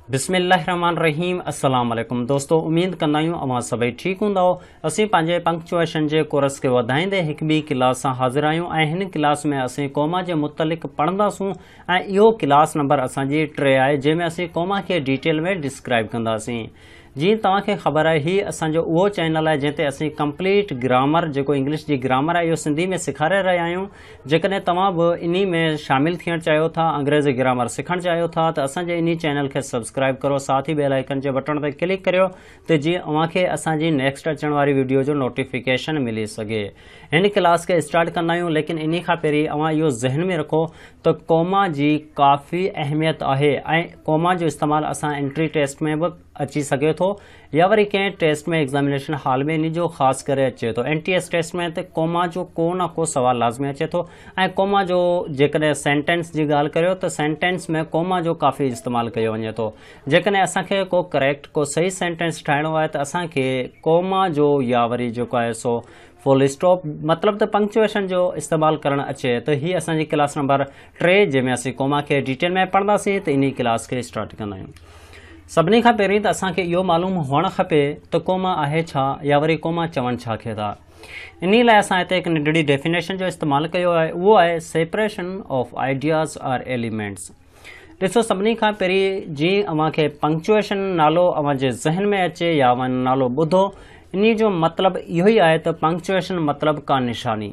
بسم الله الرحمن الرحيم السلام عليڪم دوستو اميد ڪندا آهيون اوهان سڀئي ٺيڪ هوندا اسين پنهنجي پنڪچوئيشن جي ڪورس کي وڌائيندي هڪ ٻي ڪلاس سان حاضر آهيون ۽ هن ڪلاس ۾ اسين ڪوما جي متعلق پڙهنداسون ۽ اهو ڪلاس نمبر اسان جي ٽي آهي جنهن ۾ اسين ڪوما کي ڊيٽيل ۾ ڊسڪرائب ڪنداسين. جيئن توهان کي خبر آهي هي اسان جو اهو چينل آهي جنهن تي اسين ڪمپليٽ گرامر جيڪو انگلش جي گرامر آهي اهو سنڌي ۾ سيکاري رهيا آهيون جيڪڏهن توهان به انهي ۾ شامل ٿيڻ چاهيو ٿا انگريزي گرامر سکڻ چاهيو ٿا ته اسان جي انهي چينل کي سبسڪرائب ڪرو ساٿ ئي بيل آئيڪن جي بٽڻ تي ڪلڪ ڪريو ته جيئن اوهان کي اسان جي نيڪسٽ اچڻ واري وڊيو جو نوٽيفڪيشن ملي سگهي. هن ڪلاس کي اسٽارٽ ڪندا آهيون ليڪن انهي کان پهرين اوهان اهو ذهن ۾ رکو ته ڪوما جي ڪافي اهميت آهي ۽ ڪوما جو استعمال اسان انٽري ٽيسٽ ۾ به اچي سگهي ٿو يا وري ڪنهن ٽيسٽ ۾ ايگزامينيشن هال ۾ انهي جو خاص ڪري اچي ٿو اين ٽي ايس ٽيسٽ ۾ ته ڪوما جو ڪو نه ڪو سوال لازمي اچي ٿو ۽ ڪوما جو جيڪڏهن سينٽينس جي ڳالهه ڪريو ته سينٽينس ۾ ڪوما جو ڪافي استعمال ڪيو وڃي ٿو جيڪڏهن اسان کي ڪو ڪريڪٽ ڪو صحيح سينٽينس ٺاهڻو آهي ته اسان کي ڪوما جو يا وري جيڪو آهي سو فل اسٽاپ مطلب ته پنڪچوئيشن جو استعمال ڪرڻ اچي ته هي اسان جي ڪلاس نمبر ٽي جنهن ۾ اسين ڪوما کي ڊيٽيل ۾ پڙهنداسين ته انهي ڪلاس کي اسٽارٽ ڪندا آهيون سڀني کان پهرين ته اسان کي اهو معلوم هئڻ کپي ته ڪوما آهي ڇا يا وري ڪوما چون ڇا کي ٿا انهي لاء اسان هتي هڪ ننڍڙي ڊيفينيشن جو استعمال ڪيو آهي اهو آهي separation of ideas or elements ڏسو سڀني کان پهرين جي اوهان کي پنڪچوئيشن نالو اوهان جي ذهن ۾ اچي يا اوهان نالو ٻڌو انهي جو مطلب اهو ئي آهي ته پنڪچوئيشن مطلب ڪا نشاني.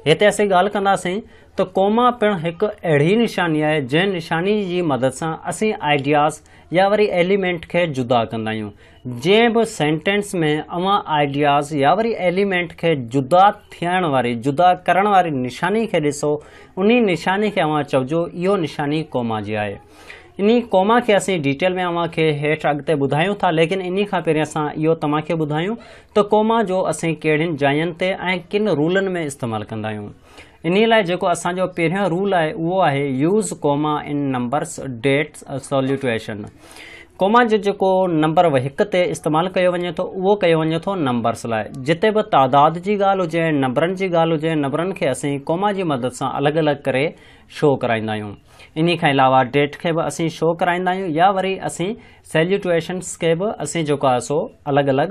هتي اسين ڳالهه ڪنداسين ته ڪوما پڻ هڪ اهڙي نشاني آهي جنهن نشاني جي مدد سان اسين آئيڊياز يا وري ايليمينٽ کي جدا ڪندا آهيون. جنهن به سينٽينس ۾ اوهان آئيڊياز يا وري ايليمينٽ کي جدا ٿيڻ واري، جدا ڪرڻ واري نشاني کي ڏسو، انهي نشاني کي اوهان چئجو اهو نشاني ڪوما جي آهي. انهي ڪوما کي اسين ڊيٽيل ۾ اوهان کي هيٺ اڳتي ٻڌايون ٿا ليڪن انهي کان پهرين اسان اهو توهان کي ٻڌايون ته ڪوما جو اسين ڪهڙين جاين تي ۽ ڪن رولن ۾ استعمال ڪندا آهيون. انهيء لاء جيڪو اسان جو پهريون رول آهي اهو آهي use comma in numbers date salutation. Comma جو جيڪو نمبر هڪ تي استعمال ڪيو وڃي ٿو اهو ڪيو وڃي ٿو نمبرس لاء. جتي به تعداد جي ڳالهه هجي ۽ نمبرن جي ڳالهه هجي نمبرن کي اسين ڪوما جي مدد سان الڳ الڳ ڪري شو ڪرائيندا آهيون. انهيء کان علاوه ڊيٽ کي به اسين شو ڪرائيندا آهيون يا وري اسين سيليوٽيشنس کي به اسين جيڪو آهي سو الڳ الڳ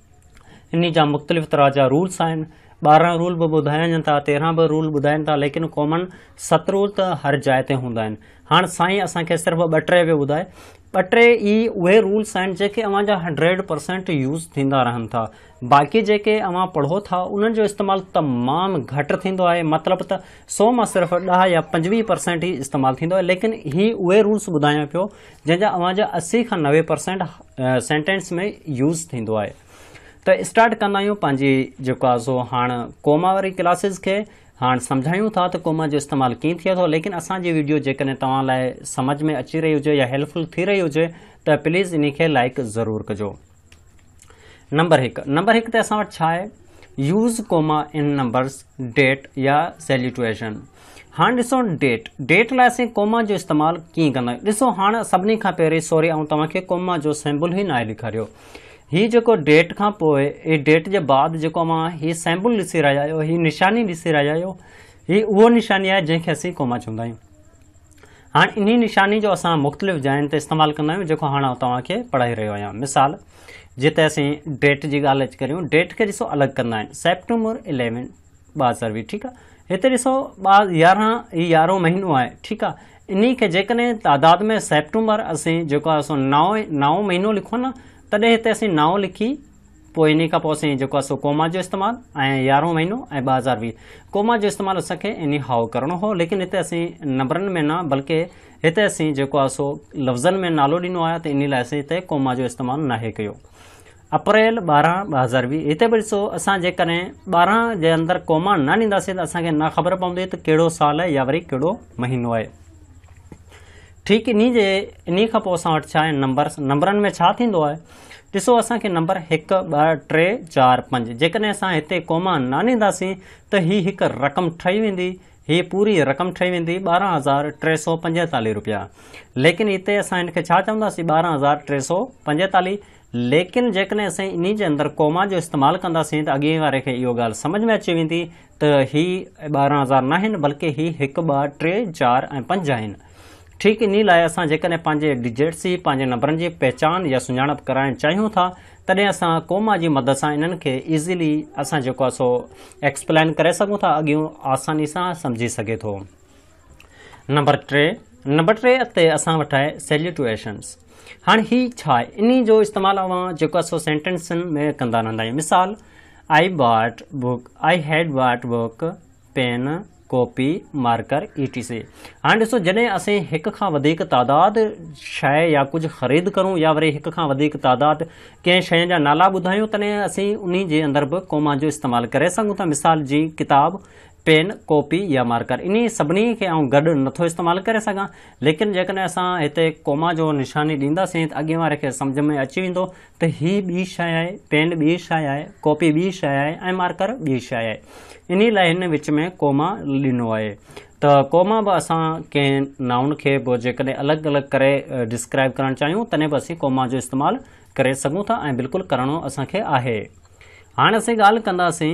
انهي جا مختلف طرح جا رولس آهن ٻارهن رول به ٻڌايا وڃن ٿا تيرهن به رول ٻڌائن ٿا ليڪن ڪامن ست رول ته هر جاء تي هوندا آهن هاڻ سائين اسان کي صرف ٻه ٽي پيو ٻڌائي ٻه ٽي ئي اهي رولس آهن جيڪي اوهان جا هنڊريڊ پرسنٽ يوز ٿيندا رهن ٿا باقي جيڪي اوهان پڙهو ٿا انهن جو استعمال تمام گهٽ ٿيندو آهي مطلب ته سو مان صرف ڏهه يا پنجويهه پرسنٽ ئي استعمال ٿيندو آهي ليڪن هي اهي رولس ٻڌايان پيو جنهن جا اوهان جا اسي کان نوي پرسينٽ سينٽينس ۾ يوز ٿيندو آهي ته اسٽارٽ ڪندا آهيون پنهنجي جيڪو آهي سو هاڻ ڪوما واري ڪلاسز کي هاڻ سمجهايون ٿا ته ڪوما جو استعمال ڪيئن ٿئي ٿو ليڪن اسان جي ويڊيو جيڪڏهن توهان لاء سمجهه ۾ اچي رهي هجي يا هيلپفل ٿي رهي هجي ته پليز انهي کي لائڪ ضرور ڪجو نمبر هڪ نمبر هڪ تي اسان وٽ ڇا آهي use comma in numbers date يا سيليٽويشن هاڻ ڏسو ڊيٽ ڊيٽ لاء اسين ڪوما جو استعمال ڪيئن ڪندا آهيون ڏسو هاڻ سڀني کان پهرين سوري آئون توهان کي ڪوما جو سيمبل هي ناهي ڏيکاريو هي جيڪو ڊيٽ کان پوء هي ڊيٽ جي بعد جيڪو اوهان هي سيمبل ڏسي رهيا آهيو هي نشاني ڏسي رهيا آهيو هي اهو نشاني آهي جنهن کي اسين ڪوما چوندا آهيون هاڻ انهي نشاني جو اسان مختلف جاين تي استعمال ڪندا آهيون جيڪو هاڻ آئون توهان کي پڙهائي رهيو آهيان مثال جي تي اسين ڊيٽ جي ڳالهه اچ ڪريون ڊيٽ کي ڏسو الڳ ڪندا آهن سيپٽمبر اليون ٻه هزار ويهه ٺيڪ آهي هتي ڏسو ٻار يارهن هي يارهون مهينو آهي ٺيڪ آهي انهي کي جيڪڏهن تعداد ۾ سيپٽمبر اسين جيڪو آهي سو نو نو مهينو لکون ته هتي اسين نو لکي پوء انهي کان پوء سائين جيڪو آهي سو ڪوما جو استعمال ۽ يارهون مهينو ۽ ٻه هزار ويهه ڪوما جو استعمال اسان کي انهي هائو ڪرڻو هو ليڪن هتي اسين نمبرن ۾ نه بلڪه هتي اسين جيڪو آهي سو لفظن ۾ نالو ڏنو آهي ته انهي لاء اسين هتي ڪوما جو استعمال ناهي ڪيو اپريل ٻارهن ٻه هزار ويهه هتي به ڏسو اسان جيڪڏهن ٻارهن جي اندر ڪوما نه ڏينداسين ته اسان کي نه خبر پوندي ته ڪهڙو سال آهي يا وري ڪهڙو مهينو آهي ٺيڪ انهي جي انهي کان پوء اسان وٽ ڇا آهن نمبرس نمبرن ۾ ڇا ٿيندو آهي ڏسو اسان کي نمبر هڪ، ٻه، ٽي، چار، پنج جيڪڏهن اسان هتي ڪوما نه آندينداسين ته هي هڪ رقم ٺهي ويندي، هي پوري رقم ٺهي ويندي ٻارهن هزار ٽي سؤ پنجيتاليهه رپيا. ليڪن هتي اسان هن کي ڇا چونداسين ٻارهن هزار ٽي سؤ پنجيتاليهه ليڪن جيڪڏهن اسين انهي جي اندر ڪوما جو استعمال ڪنداسين ته اڳئين واري کي اهو ڳالهه سمجهه ۾ اچي ويندي ته هي ٻارهن هزار ناهن بلڪه هي هڪ، ٻه، ٽي، چار ۽ پنج آهن. ٺيڪ انهي لاء اسان جيڪڏهن پنهنجي ڊجيٽس جي، پنهنجي نمبرن جي، پهچان يا سڃاڻپ ڪرائڻ چاهيون ٿا تڏهن اسان ڪوما جي مدد سان انهن کي ايزلي اسان جيڪو آهي سو ايڪسپلائن ڪري سگهون ٿا اڳيون آساني سان سمجهي سگهي ٿو. نمبر ٽي نمبر ٽي تي اسان وٽ آهي سيليٽوئيشنس هاڻ هي ڇا آهي انهي جو استعمال اوهان جيڪو آهي سو سينٽينسن ۾ ڪندا رهندا آهيون مثال I bought book I had bought book pen, copy, marker E T C هاڻي ڏسو جڏهن اسين هڪ کان وڌيڪ تعداد شيء يا ڪجهه خريد ڪرون يا وري هڪ کان وڌيڪ تعداد ڪنهن شين جا نالا ٻڌايون تڏهن اسين انهي جي اندر به ڪوما جو استعمال ڪري سگهون ٿا مثال جيئن ڪتاب، پين، ڪاپي يا مارڪر انهي سڀني کي آئون گڏ نٿو استعمال ڪري سگهان ليڪن جيڪڏهن اسان هتي ڪوما جو نشاني ڏينداسين ته اڳين واري کي سمجهه ۾ اچي ويندو ته هي ٻي شيء آهي، پين ٻي شيء آهي، ڪاپي ٻي شيء آهي ۽ مارڪر ٻي شيء آهي. انهيء لاء هن وچ ۾ ڪوما ڏنو آهي. ته ڪوما به اسان ڪنهن نائون کي به جيڪڏهن الڳ الڳ ڪري ڊسڪرائيب ڪرڻ چاهيون تڏهن به اسين ڪوما جو استعمال ڪري سگهون ٿا ۽ بلڪل ڪرڻو اسان کي آهي. هاڻ اسين ڳالهه ڪنداسين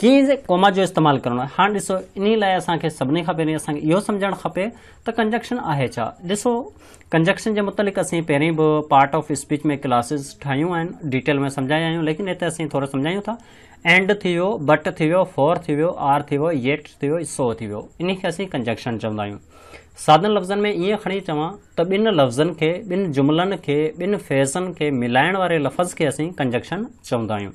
ڪيئن ڪوما جو استعمال ڪرڻو آهي. هاڻ ڏسو، انهي لاء اسان کي سڀني کان پهرين اسان کي اهو سمجهڻ کپي ته ڪنجنڪشن آهي ڇا؟ ڏسو، ڪنجنڪشن جي متعلق اسين پهرين به پارٽ آف اسپيچ ۾ ڪلاسز ٺاهيون آهن، ڊيٽيل ۾ سمجهايا آهيون، ليڪن هتي اسين ٿورو سمجهايون ٿا. اينڊ ٿي ويو، بٽ ٿي ويو، فور ٿي ويو، آر ٿي ويو، ييٽ ٿي ويو، سو ٿي ويو. انهي کي اسين ڪنجنڪشن چوندا آهيون. سادن لفظن ۾ ائين کڻي چوان ته ٻن لفظن کي، ٻن جملن کي، ٻن فيزن کي ملائڻ واري لفظ کي اسين ڪنجنڪشن چوندا آهيون.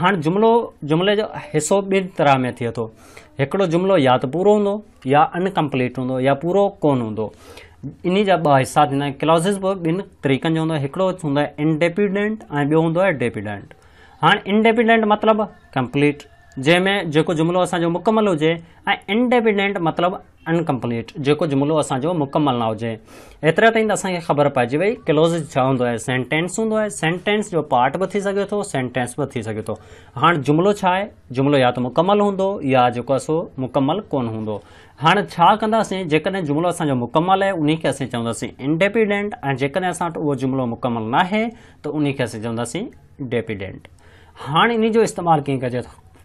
هاڻ جملو جملي جو حصو ٻن طرح ۾ ٿئي ٿو. هڪڙو جملو يا ته پورو هوندو يا ان ڪمپليٽ هوندو يا پورو ڪونه هوندو. انهي جا ٻه حصا ٿيندا آهن. ڪلوزز به ٻن طريقن جو هوندو آهي. هڪڙو هوندو آهي انڊيپينڊنٽ ۽ ٻيو هوندو آهي ڊيپينڊنٽ. هاڻ انڊيپينڊنٽ مطلب ڪمپليٽ جنهن ۾ جيڪو جملو اسان جو مڪمل هجي ۽ انڊيپينڊنٽ مطلب Incomplete، جيڪو جملو اسان جو مڪمل نه هجي. ايتري تائين ته اسان کي خبر پئجي وئي Clauses ڇا هوندو آهي، Sentence هوندو آهي، Sentence جو پارٽ به ٿي سگهي ٿو، Sentence به ٿي سگهي ٿو. هاڻ جملو ڇا آهي؟ جملو يا ته مڪمل هوندو يا جيڪو آهي سو مڪمل ڪونه هوندو. هاڻ ڇا ڪنداسين جيڪڏهن جملو اسان جو مڪمل آهي انهي کي اسين چونداسين Independent ۽ جيڪڏهن اسان وٽ اهو جملو مڪمل ناهي ته انهي کي اسين چونداسين Dependent. هاڻ انهي جو استعمال ڪيئن ڪجي ٿو؟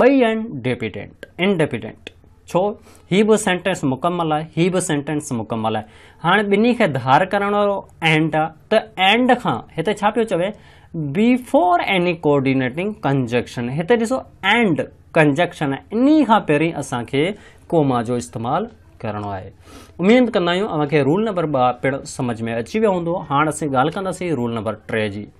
ٻئي آهن ڊيپيڊنٽ، Independent، ڇو؟ هي به سينٽينس مڪمل آهي، هي به سينٽينس مڪمل آهي. هاڻي ٻنهي کي ڌار ڪرڻ وارو اينڊ آهي ته اينڊ کان هتي ڇا پيو چوي بيفور ايني ڪوآرڊينيٽنگ ڪنجنڪشن هتي ڏسو اينڊ ڪنجنڪشن آهي انهي کان پهرين اسان کي ڪوما جو استعمال ڪرڻو آهي. اميد ڪندا آهيون اوهان کي رول نمبر ٻه پڻ سمجهه ۾ اچي ويو هوندو. هاڻ اسين ڳالهه ڪنداسين رول نمبر ٽي جي.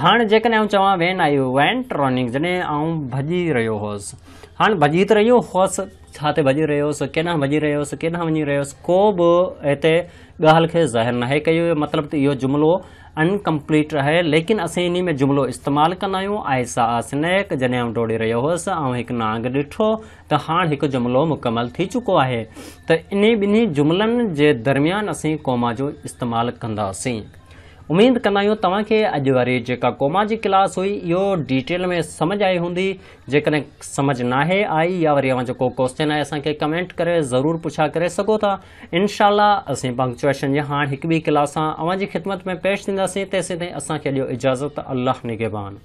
هاڻ جيڪڏهن آئون چوان وين آئي وينٽ رننگ جڏهن آئون ڀڄي رهيو هوس هاڻ ڀڄي ته رهيو هوس ڇا تي ڀڄي رهيو هوس ڪيڏانهن ڀڄي رهيو هوس ڪيڏانهن وڃي رهيو هوس ڪو به هتي ڳالهه کي ظاهر ناهي ڪيو ويو مطلب ته اهو جملو انڪمپليٽ آهي ليڪن اسين انهي ۾ جملو استعمال ڪندا آهيون آئي سا آ سنيڪ جڏهن آئون ڊوڙي رهيو هوس آئون هڪ نانگ ڏٺو ته هاڻ هڪ جملو مڪمل ٿي چڪو آهي ته انهي ٻنهي جملن جي درميان اسين ڪوما جو استعمال ڪنداسين اميد ڪندا آهيون توهان کي اڄ واري جيڪا ڪوما جي ڪلاس هئي اهو ڊيٽيل ۾ سمجھ آئي هوندي جيڪڏهن سمجھ ناهي آئي يا وري اوهان جو ڪو ڪوسچن آهي اسان کي ڪمينٽ ڪري ضرور پڇا ڪري سگهو ٿا انشاء الله اسين پنڪچوئيشن جي هاڻ هڪ ٻي ڪلاس سان اوهان جي خدمت ۾ پيش ٿينداسين تيسين تائين اسان کي ڏيو اجازت الله نگهبان.